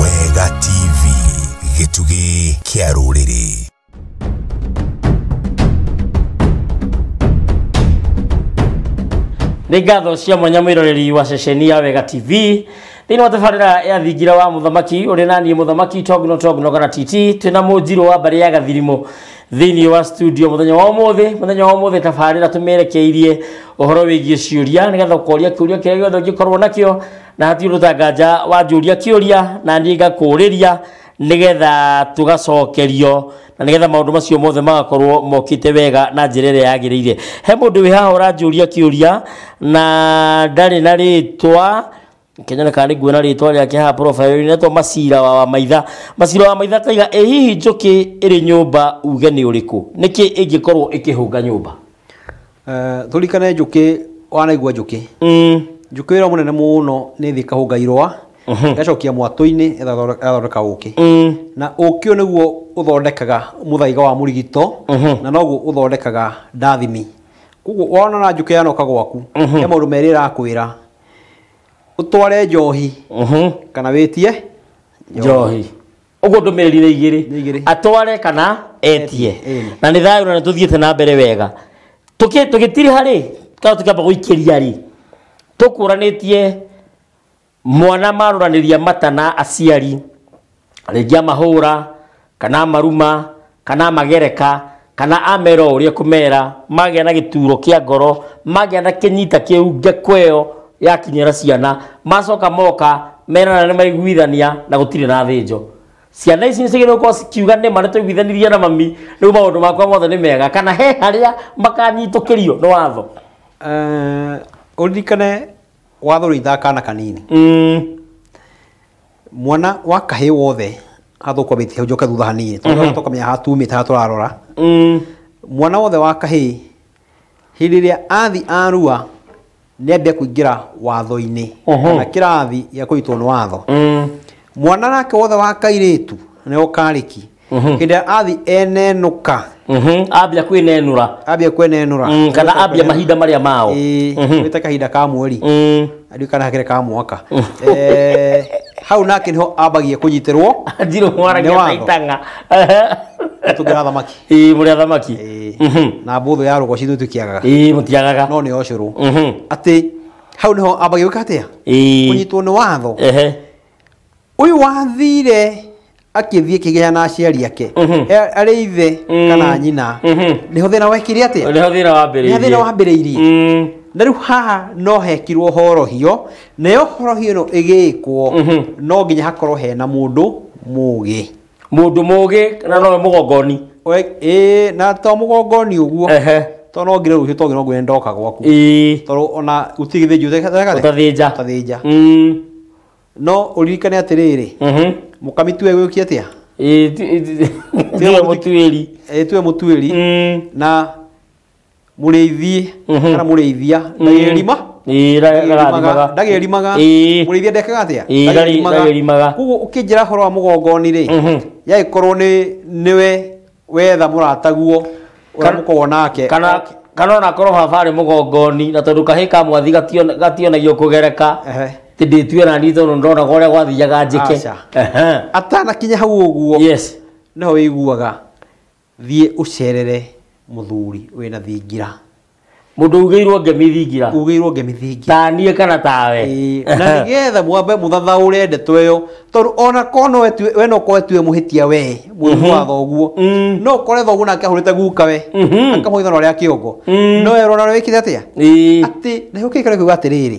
Wega TV gĩtugĩ kĩa rũrĩrĩ nĩ ngatho cia mwanya mwĩroreri wa ceceni ya wega tv thĩinĩ wa tabarĩra ya thingira wa mũthamaki ũrĩ naniĩ mũthamaki togno togno kana titi twĩna mũnjirũ wa mbarĩ ya gathirimũ thĩinĩ wa studio mũthenya wa ũmũthĩ mũthenya wa ũmũthĩ tabarĩra tũmerekeirie ũhoro wĩgiĩ ciũria nĩgetha ũkoria kĩũria kĩrĩa gĩothe ũngĩkorwo nakĩo na hatirĩ ũndũ ũtanganja wanjũria kĩũria na niĩ ngakũũrĩria nĩgetha tũgacokerio na nĩgetha maũndũ macio mothe magakorwo mokĩte wega na njĩra ĩrĩa yagĩrĩire he mũndũ wĩ haha ũranjũria kĩũria na ndarĩ na rĩtwa kenyana kana nĩ nguona rĩtwa rĩake haha profile-inĩ rĩtwa macira wa wamaitha macira wa maitha kaiga ĩ hihi njũkĩ ĩrĩ nyũmba uge nĩ ũrĩkũ nĩkĩ ĩngĩkorwo ĩkĩhũnga nyũmba Eh, tũrikane njũkĩ wanaigua njũkĩ Mm, njũkĩ wĩra mũnene mũno nĩ thĩ kahũnga irũa gacokia mwatũ-inĩ ĩgathondeka ũkĩ mm, na ũkĩ ũyũ nĩguo ũthondekaga mũthaiga wa mũrigito na noguo ũthondekaga ndathimi koguo wona na njũkĩ yanoka gwaku he maũndũ merĩ ĩrakwĩra ũtware njohi Mhm. kana wĩtie njohi ũguo ndũmĩrĩri nĩ Nĩ igĩrĩ igĩrĩ. atware kana etie Ĩĩ. na nĩ thayũ na nĩ tũthiĩte na mbere wega Tũkĩ- tũgĩtiri harĩ kana tũkĩamba gũikĩria rĩ tũkũranĩtie mwana marũranĩria mata na aciari rĩngĩ amahũra kana amaruma kana amagereka kana amera o ũrĩa kũmera magĩa na gĩturo kĩa ngoro magĩa na kĩnyita kĩu ngeko ĩyo yakinyĩra ciana macoka moka merana nĩ maiguithania na gũtirĩ na thĩnjo ciana ici nĩcigĩrĩirwo gũkorwo cikiuga nĩ ma nĩtũiguithanirie na mami rĩu maũndũ makwa mothe nĩ mega kana he harĩa makanyitũkĩrio nĩ watho Eh, ũririkane watho ũrĩithaga kana kanini Mm, mwana wa kahĩ wothe athũkũmĩte hau njoke thutha hanini tondũ tũkamenya haha tumĩte haha tũrarora Mm. mwana wothe wa kahĩ hĩndĩ ĩrĩa athi arua nĩ ambia kũingĩra watho-inĩ Mhm. kana kĩrathi gĩa kũnyitwo nĩ watho Mm. mwana nake wothe wa kairĩtu nĩ ũkarĩki hĩndĩ ĩrĩa athi enenũka Mhm. ambia kwĩnenũra ambia kwenenũra Mm, kana ambia mahinda marĩa mao Mhm. wĩte kahinda ka mweri Mm. andiũ kana hakĩre ka mwaka Eh, hau nake nĩho ambagia kũnyitĩrwo ndirũ Nĩ mwaragia watho. taitanga tũngĩra thamaki ĩĩ mũrĩa thamaki Eh, Mhm. na mbũthũ ya rũgwa citũ tũkĩagaga ĩĩ mũtiagaga no nĩ ocũrũ Mhm. atĩ hau nĩho ambagia gwĩka atĩa ĩĩ kũnyitwo nĩ watho ehe Ũyũ wathire akĩthiĩ kĩgĩa na aciari ake A- arĩ ithe kana nyina nĩho thĩna wekire atĩa Nĩho thĩna wambĩrĩirie. Nĩho thĩna wambĩrĩirie. Mm. na rĩu haha no hekirwo horohio nayo horohio ĩno ĩgĩkwo no nginya hakorwo hena mũndũ mũgĩ Mũndũ mũgĩ na nowe mũgongoni. We- ĩĩ, na to mũgongoni ũguo Ehe. to no ngire rũciũ tongi no ngwĩre ndoka gwaku Ĩĩ. tondũ ona gũtirĩ gĩthĩnjio ũteka- ũteka- Ũtathĩnja. ũtathĩnja Mm. no ũririkane atĩrĩrĩ mũkamitue gwĩũkia atĩa tiwe mũtuĩri Ĩ, tiwe mũtuĩri Mm. na mũrĩithi Mhm. kana mũrĩithia ndagĩrima Ĩĩ, ra- rararimaga. ndagĩrimaga Ĩĩ. mũrĩithia ndekaga atĩa Ĩĩ, ndagĩri- ndagĩrimaga. koguo ũkĩnjĩra horo wa mũgongoni rĩ Mhm. yagĩkorwo nĩ nĩwe wetha mũrataguo ũrĩa mũkoragwo nake kana kana ona korwo baba arĩ mũgongoni na tondũ kahĩ ka mwathi gatio- gationagio kũgereka Ehe. ti ndĩtue na niĩ tondũ ndonaga ũrĩa gwathiaga njĩke Aca. Ehe. atanakinya hau ũguo yes nĩho wĩiguaga thiĩ ũcerere mũthuri wĩna thingira Mũndũ ugĩirwo ngemi thingira. ugĩirwo ngemi thingira Ta niĩ kana tawe. Ĩĩ, na nĩgetha mwambe mũthathaũre ndeto ĩyo tondũ ona korwo no wetue- we no korwo wetue mũhĩtia we mũrimũ wa thoguo Mm. no ũkore thoguo nake ahũrĩte guka we Mhm. akamũhithana ũrĩa kĩongo Mm. no erwo na wĩkire atĩa Ĩĩ. atĩ na gĩũkĩrĩkĩra kiuga atĩrĩrĩ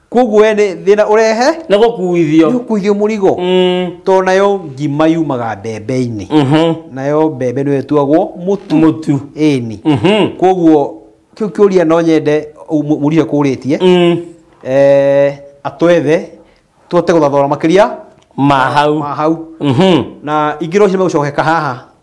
koguo we nĩ thĩna ũrehe nĩ gũkuithio gũkuithio mũrigo to nayo ngima yumaga mbembe-inĩ nayo mbembe nĩyo ĩtuagwo mũtu mũtu ĩni koguo kĩu kĩũria no nyende ũ- mũriũ kũrĩtie eh, atwethe tũhote gũthathora makĩria ma hau ma hau na ingĩ rũciũ megũcokeka haha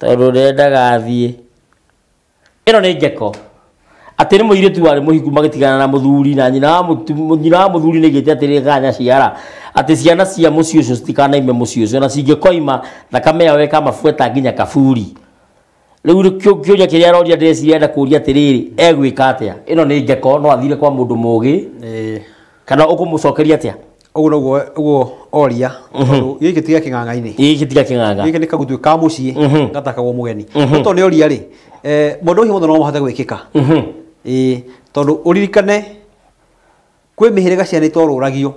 Tondũ nĩ endaga athiĩ. Ĩno nĩ ngeko. Atĩ nĩ mũirĩtu warĩ mũhiku magĩtigana na mũthuri na nyina wa mũtu- nyina wa mũthuri nĩgĩte atĩ rĩrĩa kanya ciara atĩ ciana cia mũciĩ ũcio citikanaime mũciĩ ũcio na cingĩkoima thakame yao ĩkamabuata nginya kaburi. Rĩu rĩ- kĩũ- kĩũria kĩrĩa aroria ndĩreciria arenda kũria atĩrĩrĩ egwĩka atĩa? Ĩno nĩ ngeko no athire kwa mũndũ mũgĩ Ĩĩ. kana ũkũmũcokeria atĩa? Ũguo noguo ũguo oria tondũ gĩkĩ tiga kĩng'ang'a-inĩ gĩkĩ tiga kĩng'ang'a gĩkĩ nĩ kagutuĩ ka mũciĩ gatakagwo mũgeni no tondũ nĩ oria rĩ eh, maũndũ macio mothe no mahote gwĩkĩka ĩĩ tondũ ũririkane kwĩ mĩhĩrĩga ciana itorũragio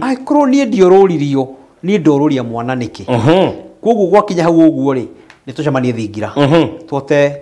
angĩkorwo niĩ ndiorũririo niĩ ndorũria mwana nĩkĩ koguo gwakinya hau ũguo rĩ nĩ tũcemanie thingira twote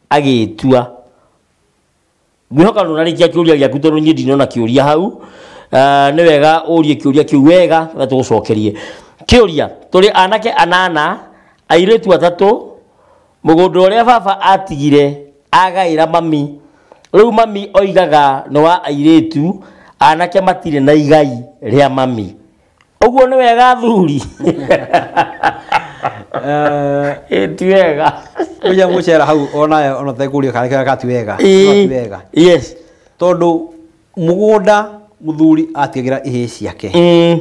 agĩtua ngwĩhoka nĩ ũrarĩkia kĩũria gĩaku tondũ niĩ ndinona kĩũria hau uh, nĩ wega ũrie kĩũria kĩu wega na tũgũcokerie kĩũria tũrĩ anake anana airĩtu atatũ mũgũnda ũrĩa baba atigire agaĩra mami rĩu mami oigaga nĩ wa airĩtu anake matirĩ na igai rĩa mami Ũguo nĩ wega athuri. Eh, Ĩ ti wega. Kuja mucera hau ona ona tekuria kana kega kati wega. Ĩ, Kati wega. Yes. Tondu mugunda muthuri atigira ihe ciake. Mm.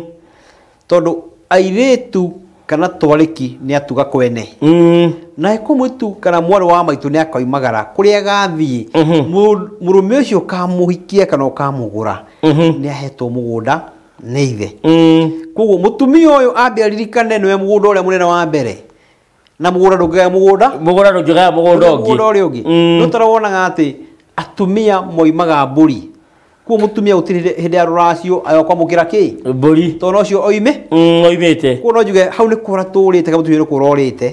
Tondu airitu kana twariki ni atuga kwene. Mm. Na ko mwitu kana mwarĩ wa maitũ nĩ akoimagara kũrĩa gathiĩ Mhm. Mũ- mũrũme ũcio ũkamuhikia kana ũkamũgũra Mhm. nĩ ahetwo mũgũnda nĩ ithe koguo mũtumia ũyũ ambia ririkane nĩwe mũgũnda ũrĩa mũnene wa mbere na mũgũnda ndũngĩgaya mũgũnda mũgũnda ndũngĩgaya mũgũnda ũngĩ mũgũnda ũrĩa ũngĩ nĩ ũtara wonaga atĩ atumia moimaga mbũri kuo mũtumia gũtirĩ hĩndĩ- hĩndĩ ya rũracio ayo kwamũkĩra kĩ mbũri tondũ ũcio oime oimĩte kuo no njuge hau nĩ kũra tũrĩte kana mũtumia nĩ kũra ũrĩte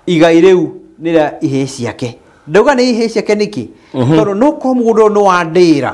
igai rĩu nĩ rĩa ihĩĩ ciake ndauga nĩ ihĩĩ ciake nĩkĩ tondũ no korwo mũgũnda ũyũ nĩ wa ndĩra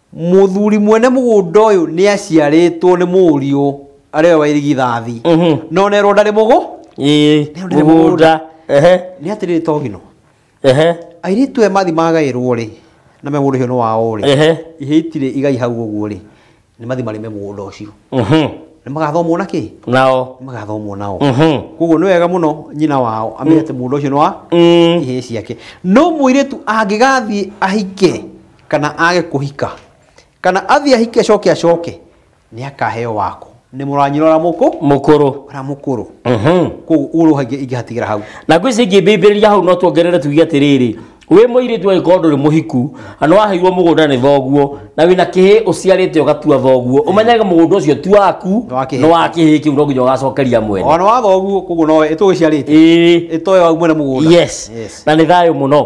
Mũthuri mwene mũgũnda ũyũ nĩ aciarĩtwo nĩ mũriũ arĩwe wa irigithathi Mhm. na onerwo ndarĩ mũgũ Ĩĩ, Nĩ ũndũ nĩ mũgũnda. Ehe, nĩ atĩrĩrĩ togino ehe, airĩtu aya mathi magaĩrwo rĩ na megũrwo ũhĩo nĩ wao rĩ ehe. ihĩ itirĩ igai hau ũguo rĩ nĩ mathi marĩme mũgũnda ũcio Mhm. nĩ magathomwo na kĩ Nao. nĩ magathomwo nao Mhm. koguo nĩ wega mũno nyina wao amenya atĩ mũgũnda ũcio nĩ wa Mm. ihĩ ciake no mũirĩtu angĩgathiĩ ahike kana age kũhika kana athiĩ ahike acoke acoke nĩ akaheo wako nĩ mũranyirora mũkũ mũkũrũ ona mũkũrũ Mhm. koguo ũguo ũhagĩ ingĩhatigĩra hau na ngwĩ ici ingĩ mbĩmbĩrĩria hau no tuongerere tuge atĩrĩrĩ wĩ mũirĩtu agĩkorwo ndũrĩ mũhiku na nĩ waheirwo mũgũnda nĩ thoguo na wĩna kĩhĩ ũciarĩte ũgatua thoguo ũmenyage mũgũnda ũcio ti waku Nĩ wa kĩhĩ. nĩ wa kĩhĩ kĩu no nginya ũgacokeria mwene ona watho ũguo koguo nowe ĩtũgĩciarĩte ĩĩ ĩtoe wau mwene mũgũnda yes na nĩ thayũ mũno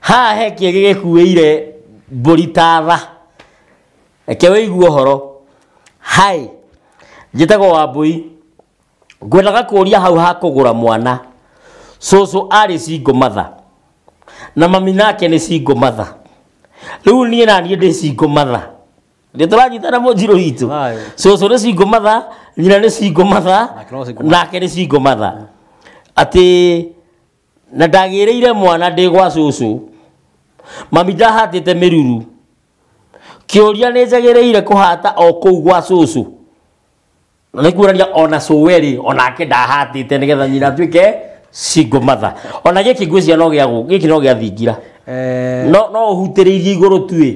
haha he kĩgĩ gĩkuĩire mbũri ta tha reke wĩigue ũhoro hi njĩtagwo wambũi ngwendaga kũũria hau ha kũgũra mwana cũcũ arĩ single mother na mami nake nĩ single mother rĩu niĩ naniĩ ndĩ single mother nĩ tũranyitana mũnjirũ witũ Aye. cũcũ nĩ single mother nyina nĩ single mother Nake no single mother. nake nĩ single mother atĩ na ndagĩrĩire mwana ndĩ gwa cũcũ mami ndahatĩte mĩruru kĩũria nĩ njagĩrĩire kũhata o kũu gwa cũcũ na nĩ kuonania ona cũwe rĩ onake ndahatĩte nĩgetha nyina atuĩke single mother ona gĩkĩ ngwĩciria no gĩa gũ- gĩkĩ no gĩa thingira Eh, no no ũhutĩrĩirie igũrũ tuĩ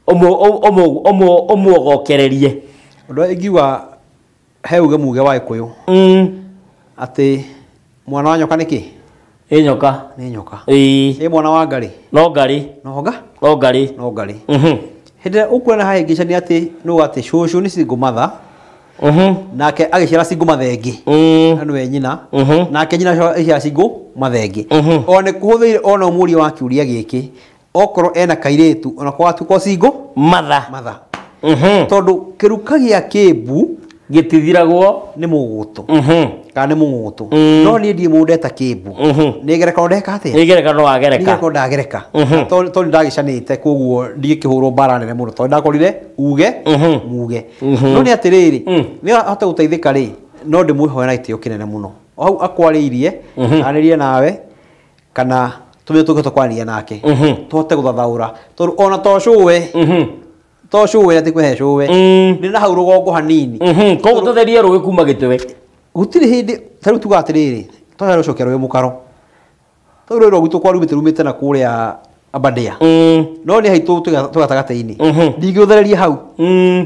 ũmũ- ũmũ- ũmũ- ũmũogokererie ũndũ ũrĩa ingiuga he uge muge wa gĩkũyũ mm. atĩ mwana wa nyoka nĩ kĩ ĩ nyoka nĩ nyoka ĩ ĩ mwana wa ngarĩ no ngarĩ no nga no ngarĩ no ngarĩ Mhm. hĩndĩ ĩrĩa ũkuona hahĩngĩcania atĩ nũ atĩ cũcũ nĩ single mother Mhm. nake agĩciara single mother ĩngĩ Mm. na nĩwe nyina Mhm. nake nyina agĩciara single mother ĩngĩ Mhm. o nĩ kũhũthĩire ona mũriũ wa kiũria gĩkĩ okorwo ena kairĩtu ona kwatuko singo matha matha Mhm. tondũ kĩruka gĩa kĩmbu gĩtithiragwo nĩ mũgũtũ Mhm. kana nĩ mũgũtũ Mm. no niĩ ndiĩ mũndũ ndeta kĩmbu Mhm. nĩ ngerekano ndeka atĩa nĩ ngerekano wagereka ngerekano ndagereka Mhm. tondũ tondũ ndagĩcanĩte koguo ndingĩkĩhũrwo mbara nene mũno tondũ ndakorire uge Mhm. muge Mhm. no nĩ atĩrĩrĩ Mm. nĩ ahote gũteithĩka rĩ no ndĩmwĩhoya na gĩtĩo kĩnene mũno O hau akwarĩirie Mhm. arĩrie nawe kana tume tukote kwaria nake Mhm. tuhote guthathaura tondu ona to cũwe Mhm. to cũwe ati kwehe cũwe Mm. nĩ na hau rũgongo hanini Mhm. koguo tũtherie rũĩ kuma gĩtĩwe gutirĩ hĩndĩ ta rĩu tuga atĩrĩrĩ twahe rũcokia rũĩ mũkaro tau rũĩ rwagu tũkwa rumĩte rumĩte na kũrĩa abandĩa Mm. no nĩ haitũ tũgatagatĩ-inĩ Mhm. ndingĩũthereria hau Mm.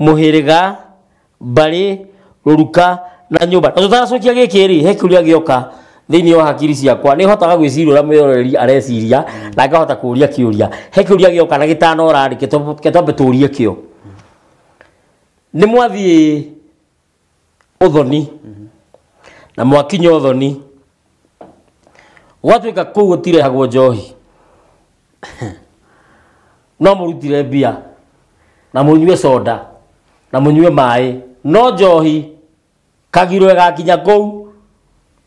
mũhĩrĩga mbarĩ rũruka na nyũmba na tũtaracokia gĩkĩ rĩ he kĩũria gĩoka thĩinĩ wa hakiri ciakwa nĩ hotaga gwĩciria ũrĩa mwĩroreri areciria na ngahota kũria kĩũria he kĩũria gĩoka na gĩtanora rĩ kĩtwambe tũrie kĩo nĩ mwathiĩ uthoni na mwakinya uthoni gwatuika kuu gutirehagwo njohi no murutire mbia na munyue soda na munyue maĩ no njohi kagiro igakinya kuu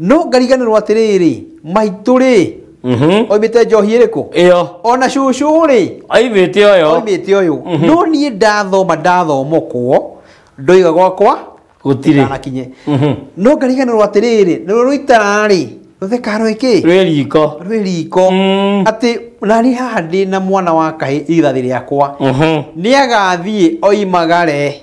no ngariganĩrwo atĩrĩrĩ maitũ rĩ Mhm. oimĩte njohi ĩrĩkũ ĩyo ona cucu rĩ aimĩte ũyũ oimĩte ũyũ no niĩ ndathoma ndathomokwo ndoiga gwakwa gũtirĩ ndanakinye Mhm. no ngariganĩrwo atĩrĩrĩ nĩrwo rũitararĩ rũtheka rwĩkĩ rwĩ riko rwĩ riko Mm. atĩ nani haha ndĩ na mwana wa kahĩ ithathi rĩakwa Mhm. nĩ agathiĩ oimagare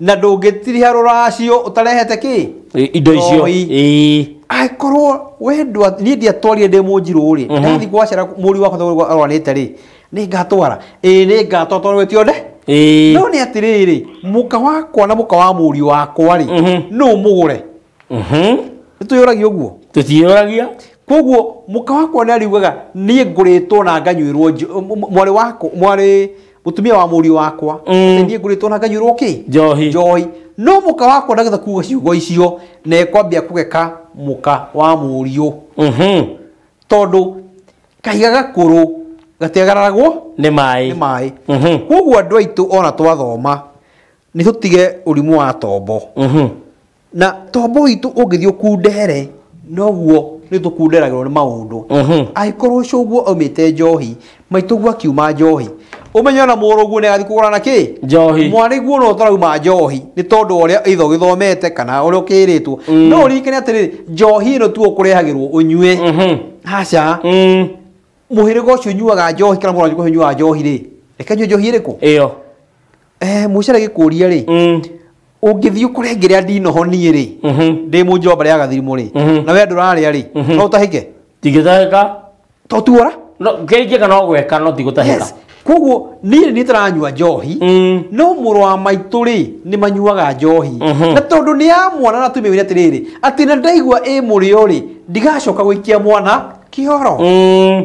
na ndũngĩtiriha rũracio ũtarehete kĩ I- indo icio Njohi. Ĩĩ. angĩkorwo we ndwa- niĩ ndiatwarire ndĩ mũnjirũ rĩ ndathi gwacera mũri wakwa thogora arwarĩte rĩ nĩ ngatwara ĩĩ nĩ ngatwara tondũ ĩtiothe Ĩĩ. no nĩ atĩrĩrĩ mũka wakwa na mũka wa mũriũ wakwa rĩ nũ mũgũre nĩ twĩyũragia ũguo tũtiyũragia koguo mũka wakwa nĩ ariugaga niĩ ngũrĩtwo na nganyuĩrwo njo- m- m- mwarĩ wakwa mwarĩ mũtumia wa mũriũ wakwa Mm. atĩ niĩ ngũrĩtwo na nganyuĩrwo kĩ Njohi. njohi no mũka wakwa ndagetha kuga ciugo icio na ekwambia kũgeka mũka wa mũriũ Mhm. tondũ kahiga gakũrũ gatiagararagwo nĩ maĩ nĩ maĩ Mhm. koguo andũ aitũ ona twathoma nĩ tũtige ũrimũ wa tombo Mhm. na tombo witũ ũngĩthiĩ ũkundere noguo nĩ tũkunderagĩrwo nĩ maũndũ angĩkorwo cũguo aumĩte njohi maitũguo akiuma njohi ũmenye ona mũrũguo nĩ agathiĩ kũgũra na kĩ Njohi. mwarĩguo no tũrauma njohi nĩ tondũ wa ũrĩa either ũgĩthomete kana ũrĩa ũkĩrĩtwo no ũririkane atĩrĩrĩ njohi ĩno tu ũkũrehagĩrwo ũnyue haca mũhĩrĩga ũcio ũnyuaga njohi kana mũrũ ũcio ũnyuaga njohi rĩ reke nyue njohi ĩrĩkũ ĩyo eh mucere gikuria ri Mm. ũngĩthiĩ ũkore ngĩrĩa ndinoho niĩ rĩ Mhm. ndĩ mu njomba rĩa gathirimũ rĩ Mhm. na we ndũrarĩa rĩ Mhm. no ũtahĩke Tigĩtahĩka. to tuora No, kĩngĩ kana ũgweka no tigũtahĩka. yes koguo niĩ nĩ tũranyua njohi Mm. no mũrũ wa maitũ rĩ nĩ manyuaga njohi Mhm. na tondũ nĩ ya mwana na tumĩwĩre atĩrĩrĩ atĩ na ndaigua ĩ mũrĩo rĩ ndigacoka gũikia mwana kĩoro Mm.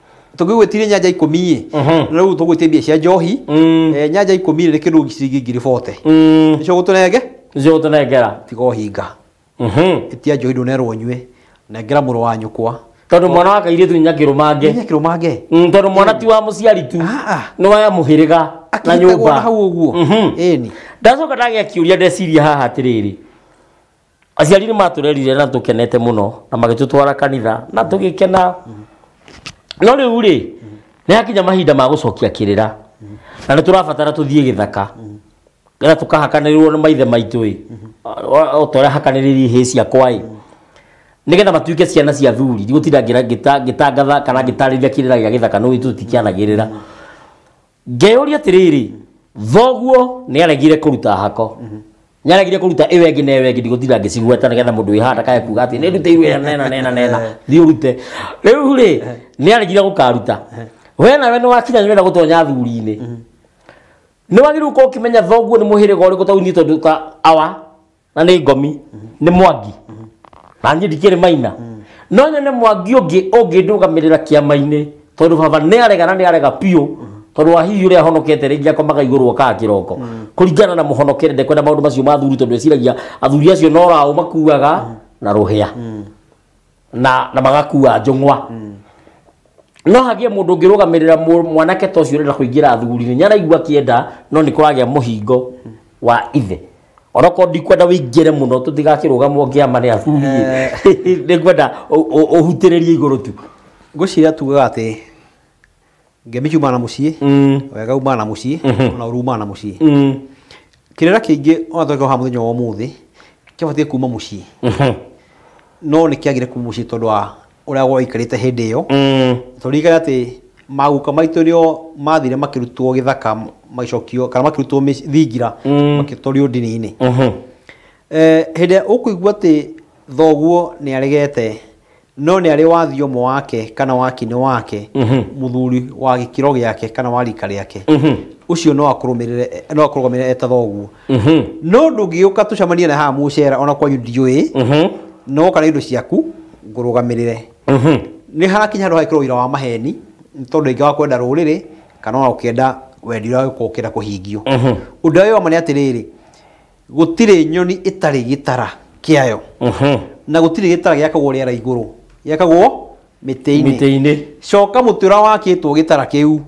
tũngĩgwĩtirie nyanja ikũmi-ĩ Mhm. rĩu tũgwĩtie mbia cia njohi Mm. Eh, nyanja ikũmi-rĩ nĩ kĩndũ ciringi ngiri bote Mm. nĩcio gũtũnenge Nĩcio gũtũnengera. tiga ũhinga Mhm. ĩtia njohi ndũnerwo nyue nengera mũrũ wa nyũkwa Tondũ mwana wa kairĩtu nginya kĩrũmange. nginya kĩrũmange Mm, Tondũ mwana ti wa mũciari tu. Ah, ah. Nĩ wa mũhĩrĩga na akĩnyitagwo na nyũmba. hau ũguo Mhm. ĩni Ndacoka ndagĩa kĩũria ndeciria haha atĩrĩrĩ. aciari nĩ matũrerire na tũkenete mũno na magĩtũtwara kanitha na tũgĩkena no rĩu rĩ nĩ hakinya mahinda ma gũcokia kĩrĩra na nĩ tũrabatara tũthiĩ gĩthaka na tũkahakanĩrĩrwo nĩ maithe maitũ ĩ o ta ũrĩa hakanĩrĩirie ihĩĩ ciakwa ĩ nĩgetha matuĩke ciana cia thuri ndigũtinda ngĩra- ngĩta- ngĩtangatha kana ngĩtarĩria kĩrĩra gĩa gĩthaka nĩ ũĩ tũtikĩanagĩrĩra ngeyũria atĩrĩrĩ thoguo nĩ aregire kũruta hako nĩ aregire kũruta ĩyo ĩngĩ na ĩyo ĩngĩ ndigũtinda ngĩcigweta nĩgetha mũndũ wĩ handa kae kuga atĩ nĩ ndutĩirwo ĩyo nena nena nena thiĩ ũrute rĩu rĩ nĩ aregire gũkaruta we nawe nĩ wakinya nĩ wenda gũtonya thuri-inĩ nĩ wagĩrĩirwo gũkorwo ũkĩmenya thoguo nĩ mũhĩrĩga ũrĩkũ tondũ niĩ tondũ ta awa na nĩ ngomi nĩ mwangi na niĩ ndikĩrĩ maina no nyone mwangi ũngĩ ũngĩndũgamĩrĩra kĩama-inĩ tondũ baba nĩ arega na nĩ arega biũ tondũ wa hihi ũrĩa ahonokete rĩngĩ akomaga igũrũ okaga kĩroko kũringana na mũhonokere ndekwenda maũndũ macio ma athuri tondũ eciragia athuri acio no raũ makuaga na rũhĩa na na magakua njũng'wa no hagĩe mũndũ ũngĩrũgamĩrĩra mũ- mwanake ta ũcio ũrenda kũingĩra thuguri-inĩ nyaraigua kĩenda no nĩ kũragĩa mũhingo wa ithe onokorwo ndikwenda wĩingĩre mũno tũtigakĩrũgamwo ngĩama nĩ athuri nĩ ngwenda ũ- ũ- ũhutĩrĩrie igũrũ tu ngwĩciria tugaga atĩ ngemi ciumaga na muciĩ wega umaga na muciĩ ona ũru umaga na muciĩ kĩrĩra kĩingĩ ona tũreka haha mũthenya wa ũmũthĩ kĩabatiĩ kuma muciĩ no nĩ kĩagire kuma muciĩ tondũ wa ũrĩa gwaikarĩte hĩndĩ ĩyo tũririkane atĩ maguka maitũ nĩo mathire makĩrutwo gĩthaka magĩcokio kana makĩrutwo mĩci- thingira magĩtwario ndini-inĩ Eh, hĩndĩ ĩrĩa ũkũigua atĩ thoguo nĩ aregete no nĩ arĩ wa thiomũ wake kana wa kinĩ wake mũthuri wa gĩkĩro gĩake kana wa rika rĩake ũcio no akũrũmĩrĩre no akũrũgamĩrĩre eta thoguo no ndũngĩgĩũka tũcemanie na haha mũcera ona kwanyu ndiũĩ no kana indo ciaku ngũrũgamĩrĩre nĩ harakinya handũ hagĩkĩrwo ũira wa maheni nĩ tondũ ingĩ wa kwenda rũrĩrĩ kana ona ũkĩenda wendi ũrĩa ũgĩkorwo ũkĩenda kũhingio ũndũ ũrĩa wĩ wa ma nĩ atĩrĩrĩ Gũtirĩ nyoni ĩtarĩ gĩtara kĩayo, na gũtirĩ gĩtara gĩakagwo rĩera igũrũ, gĩakagwo mĩtĩ-inĩ. Mĩtĩ-inĩ. Coka mũtĩ ũrĩa wakĩtwo gĩtara kĩu.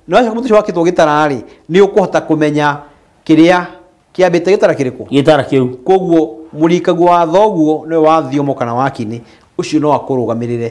Na wacoka mũtĩ ũcio wakĩtwo gĩtara-rĩ, nĩ ũkũhota kũmenya kĩrĩa kĩambĩte gĩtara kĩrĩkũ? Gĩtara kĩu. Kũoguo mũrikaguo wa thoguo nĩwe wa thiomo kana wa kĩnĩ, ũcio no akũrũgamĩrĩre.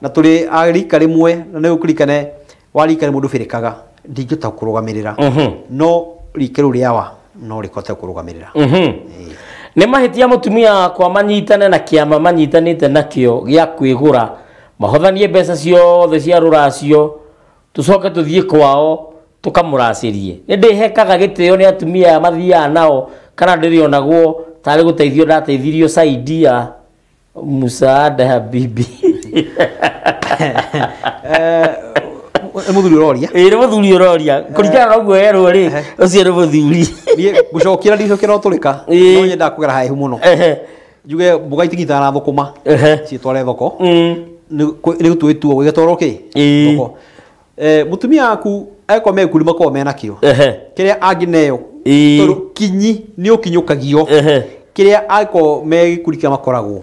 na tũrĩ a rika rĩmwe na nĩ ũkũrikane wa rika rĩmwe ndũbĩrĩkaga ndingĩhota kũrũgamĩrĩra no rika rĩu rĩawa no rĩkote kũrũgamĩrĩra nĩ mahĩtia mũtumia wakwa manyitane na kĩama manyitanĩte nakĩo gĩa kwĩgũra mahothanie mbeca ciothe cia rũracio tũcoke tũthiĩ kwao tũkamũracĩrie nĩ ndĩhekaga gĩtĩo nĩ atumia aya mathiaga nao kana ndĩrĩonagwo tarĩ gũteithio ndateithirio saidia musaada habibi nĩ mũthuri ũroria ĩĩ nĩ mũthuri ũroria kũringana na ũguo yerwo rĩ ũcio nĩ mũthuri niĩ ngũcokera ndicokera ũtũrĩka Ĩĩ. no nyenda kũgera haihu mũno Ehe, njuge mboga itigitana na thũkũma ehe. ciĩtware thoko Mm. nĩ gũtuĩtuo gũgĩtwarwo kĩ Ĩĩ. thoko Eh, mutumia waku eko mekuri makorwo mena kĩo Ehe. kĩrĩa angĩneo Ĩĩ. tondũ kinyi nĩ ũkinyũkagio Ehe. kĩrĩa angĩkorwo me gĩkuri kĩa makoragwo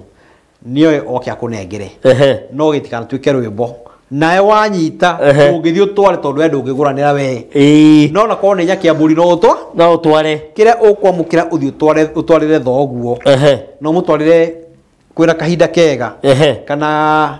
nĩoe oke akũnengere Ehe. no gĩtikanatuĩke rwĩmbo nawe wanyita Ehe. ũngĩthiĩ ũtware tondũ we ndũngĩgũranĩra wee Ĩĩ. no na korwo nĩ nyaki ya mbũri no ũtwa no ũtware kĩrĩa ũkwamũkĩra ũthiĩ ũtware- ũtwarĩre thoguo Ehe. no mũtwarĩre kwĩna kahinda kega Ehe. kana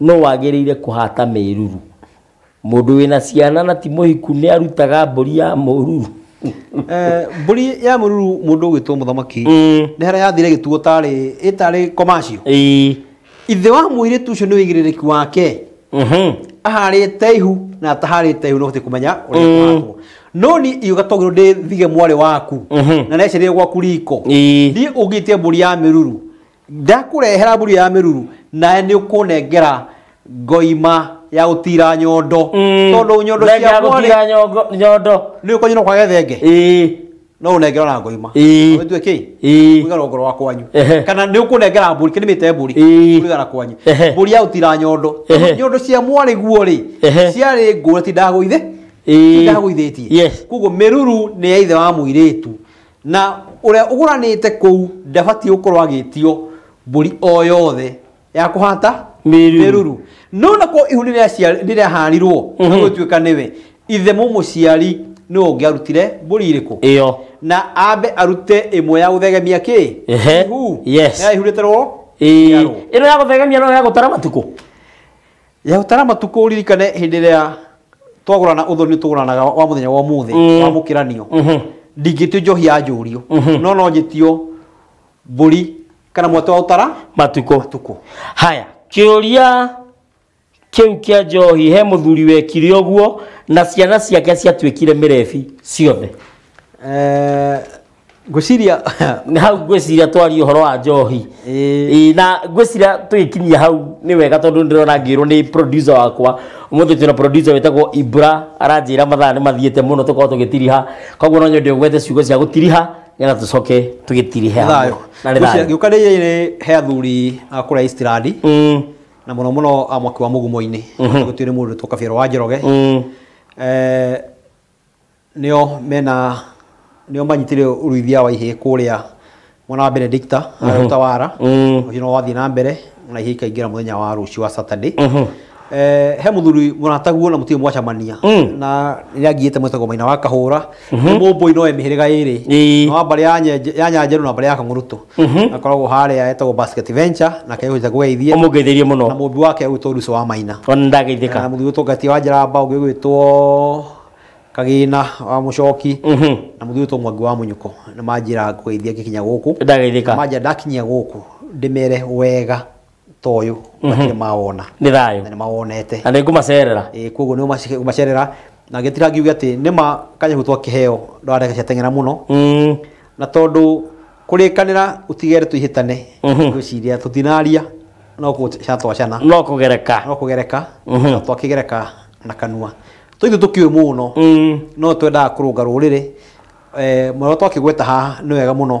Nũ wagĩrĩire kũhata mĩruru? Mũndũ wĩna ciana na ti mũhiku nĩ arutaga mbũri ya mũruru. Eh, mbũri ya mũruru mũndũ ũgwĩtwo mũthamaki mm. nĩ harĩa yathire gĩtuo tarĩ ĩtarĩ komacio ithe wa mũirĩtu ũcio nĩ wĩigĩrĩrĩki wake mhm. aharĩte ihu na ataharĩte ihu no hote kũmenya ũrĩa mm. kũhatwo no ni iyo gatogero ndä thige mwarä waku mhm. na necerä gwaku riko thiä å ngä tie mbå ri ya mä ruru ndakũrehera mburu ya mĩruru nawe nĩ ũkũnengera ngoima ya gũtira nyondo tondũ nyondo Nenge ya ciakwa gũtira nyongo- nyondo nĩ ũkonyina kwa gethenge Ĩĩ. no ũnengera na ngoima Ĩĩ. wĩtue kĩ Ĩĩ. kũigana ngoro wa kwanyu Ehe. kana nĩ ũkũnengera mbũri kĩnĩmĩte mbũri Ĩĩ. kũigana kwanyu Ehe. mbũri ya gũtira nyondo Ehe. nyondo cia mwarĩ guo rĩ Ehe. ciarĩ ngũra ti ndagũithe Ĩĩ. ti ndagũithĩtie Yes. koguo mĩruru nĩ ya ithe wa mũirĩtu Na ũrĩa ũgũranĩte kũu ndabatiĩ gũkorwo agĩtio mbũri o yothe ya kũhata Mĩruru. mĩruru no nakuo ihu nĩrĩaharirwo na Mhm. gũtuĩka nĩwe ithe mũmũciari nĩwe ũngĩarutire mbũri irĩkũ ĩyo na ambe arute ĩmwe ya gũthegemia kĩ Ehe. ihu Yes. na ihurĩte rwo Ĩĩ. njiarwo. ĩno ya gũthegemia no ya gũtara matukũ Yahũtara matukũ ũririkane hĩndĩ ĩrĩa twagũrana ũthoni tũgũranaga wa mũthenya wa ũmũthĩ Mm. wa mũkĩranio Mhm. ndingĩtio njohi ya njũrio Mhm. no no njĩtio mbũri kana mwatũ wa ũtara matukũ matukũ haya kĩũria kĩu kĩa njohi he mũthuri wekire ũguo na ciana ciake ciatuĩkire mĩrebi ciothe Eh, ngwĩciria hau ngwĩciria twarie ũhoro wa njohi Ĩĩ. Ĩĩ, na ngwĩciria tũgĩkinyia hau nĩ wega tondũ ndĩrona ngĩrwo nĩ producer wakwa ũmũthĩ twĩna producer wĩtagwo ibra aranjĩra mathaa nĩ mathiĩte mũno tũkorwo tũgĩtiriha koguo no nyende ũgwete ciugo cia gũtiriha nĩgetha tũcoke tũgĩtirihe hamwe. thayo na nĩ Ngwĩciria thayo gĩũka rĩrĩ he athuri a kũrĩa East Rand Mm, na mũno mũno a mwaki wa mũgumo-inĩ gũtuĩrĩ mũndũ tũkabiarwo wa njoroge mm, Eh, nĩo mena nĩo manyitire ũrĩithia wa ihĩĩ kũrĩa mwena wa Benedicta harĩa Utawala ũcio no wathiĩ na mbere na ihĩĩ ikaingĩra mũthenya wa rũciũ wa Saturday Eh, he mũthuri mũrataguo na mũtirĩ mwacamania na rĩrĩa ngiĩte mwĩtagwo maina wa kahũra nĩ mũmbũi no e mĩhĩrĩga ĩrĩ Ĩĩ. no wa mbarĩ ya Nyenje- ya nyanjerũ na mbarĩ ya kang'ũrũtũ akoragwo harĩa etagwo basket venture na kehũja gweithie ũmũngeithĩrie na mũno mũmbi wake ũgwĩtwo ruco wa maina ona na ndageithĩka mũthuri ũtũngatia wa njaramba ũngĩ ũgwĩtwo kagina wa mũcoki Mhm. na mũthuri ũtwo mwangi wa mũnyuko nĩ manjĩra ngũgeithia ngĩkinya gũkũ ndageithĩka manjĩra ndakinyia gũkũ ndĩmere wega ta ũyũ matirĩ mawona nĩ thayũ na nĩ mawonete na nĩ ngũmacerera Eh, koguo nĩ ũmacerera na ngĩtira ngiuge atĩ nĩ ma kanyahu twakĩheo ndwareka ciateng'era mũno Mm, na tondũ kũrĩkanĩra ũtigere tũihĩtane Mhm. ngwĩciria tũtinaria no gũcatwacana no kũgereka no kũgereka Mhm. na twakĩgereka na kanua tũitũ tũkĩũĩ mũno Mm, no twendaga kũrũnga rũrĩrĩ eh, mwana twakĩgweta haha nĩ wega mũno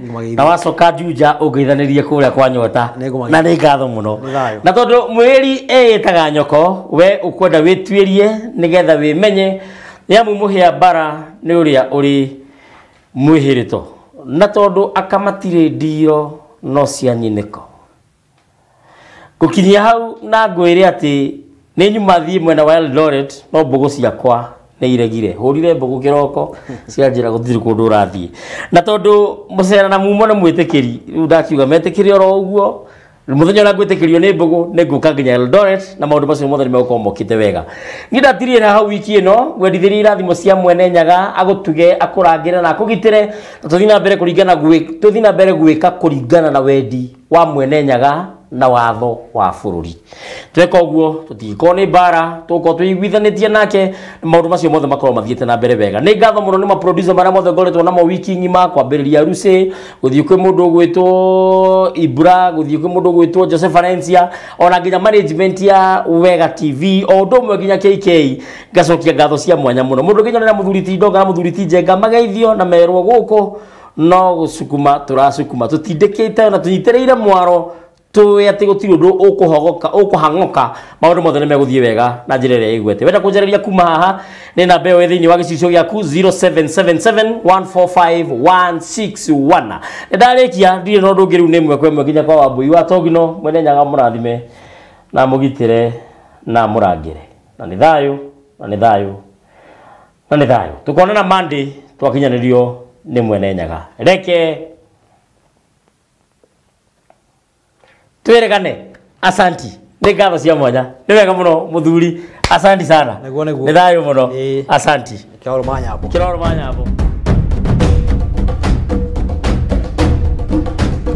Magĩithia. na wacoka Juja ũngeithanĩrie kũrĩa kwa nyota Nĩngũmagĩithia. na nĩ ngatho mũno Nĩ thayũ. na tondũ mwĩri eyĩtaga nyoko we ũkwenda wĩtuĩrie nĩgetha wĩmenye nĩ amu mũhĩa mbara nĩ ũrĩa ũrĩ mwĩhĩrĩto na tondũ akamatirĩ ndiro no cia nyinĩko Ngũkinyia hau na ngwĩre atĩ nĩ nyuma thiĩ mwena wa Eldoret no mbũgũ ciakwa nĩ iregire. Hũrire mbũgũ kĩroko cianjĩra gũtirĩ kũndũ ũrathiĩ. Na tondũ mũcera na mumo nĩ mwĩtĩkĩri, rĩu ndakiuga metĩkĩre oro ũguo, mũthenya ũrĩa ngwĩtĩkĩrio nĩ mbũgũ nĩ ngũka nginya Eldoret na maũndũ macio mothe nĩ megũkorwo mokĩte wega. Niĩ ndatirĩra hau wiki ĩno, ngwendithĩria irathimo cia Mwene Nyaga, agũtuge, akũrangĩre na akũgitĩre, na tũthiĩ na mbere kũringana gwĩ, tũthiĩ na mbere gwĩka kũringana na wendi wa mwene nyaga na watho wa bũrũri tweka ũguo tũtingĩkorwo nĩ mbara tũgũkorwo twĩiguithanĩtie nake maũndũ macio mothe makorwo mathiĩte na mbere wega nĩ ngatho mũno nĩ maproducer marĩa mothe ngoretwo namo wiki ng'ima kwambĩrĩria rucĩ gũthiĩ kwĩ mũndũ ũgwĩtwo ibra gũthiĩ kwĩ mũndũ ũgwĩtwo jose valencia ona nginya management ya wega tv o ũndũ ũmwe nginya kk ngacokia ngatho cia mwanya mũno mũndũ nginya nĩra mũthuri ti ndonga na mũthuri ti njenga mageithio na merwo gũkũ no gũcukuma tũracukuma tũtindĩkĩte na tũnyitĩrĩire mwaro tũĩ atĩ gũtirĩ ũndũ ũkũhogoka ũkũhang'oka maũndũ mothe nĩ megũthiĩ wega na njĩra ĩrĩa ĩgwete wenda kũnjarĩria kuma haha nĩ namba ĩyo ĩ thĩinĩ wa gĩcicio gĩaku 0777145161 nĩ ndarĩkia ndirĩ na ũndũ ũngĩ rĩu nĩ ĩmwe kwa ĩmwe nginya kwa wambũi wa togino mwene nyaga mũrathime na mũgitĩre na mũrangĩre na nĩ thayũ na nĩ thayũ na nĩ thayũ tũkonana monday twakinyanĩrio nĩ mwene nyaga reke twĩrĩgane asanti nĩ ngatho cia mwanya nĩ wega mũno mũthuri asanti sana Naguo nĩguo. nĩ thayũ mũno Ĩĩ. asanti Kĩoro ma nyambo. kĩroro ma nyambo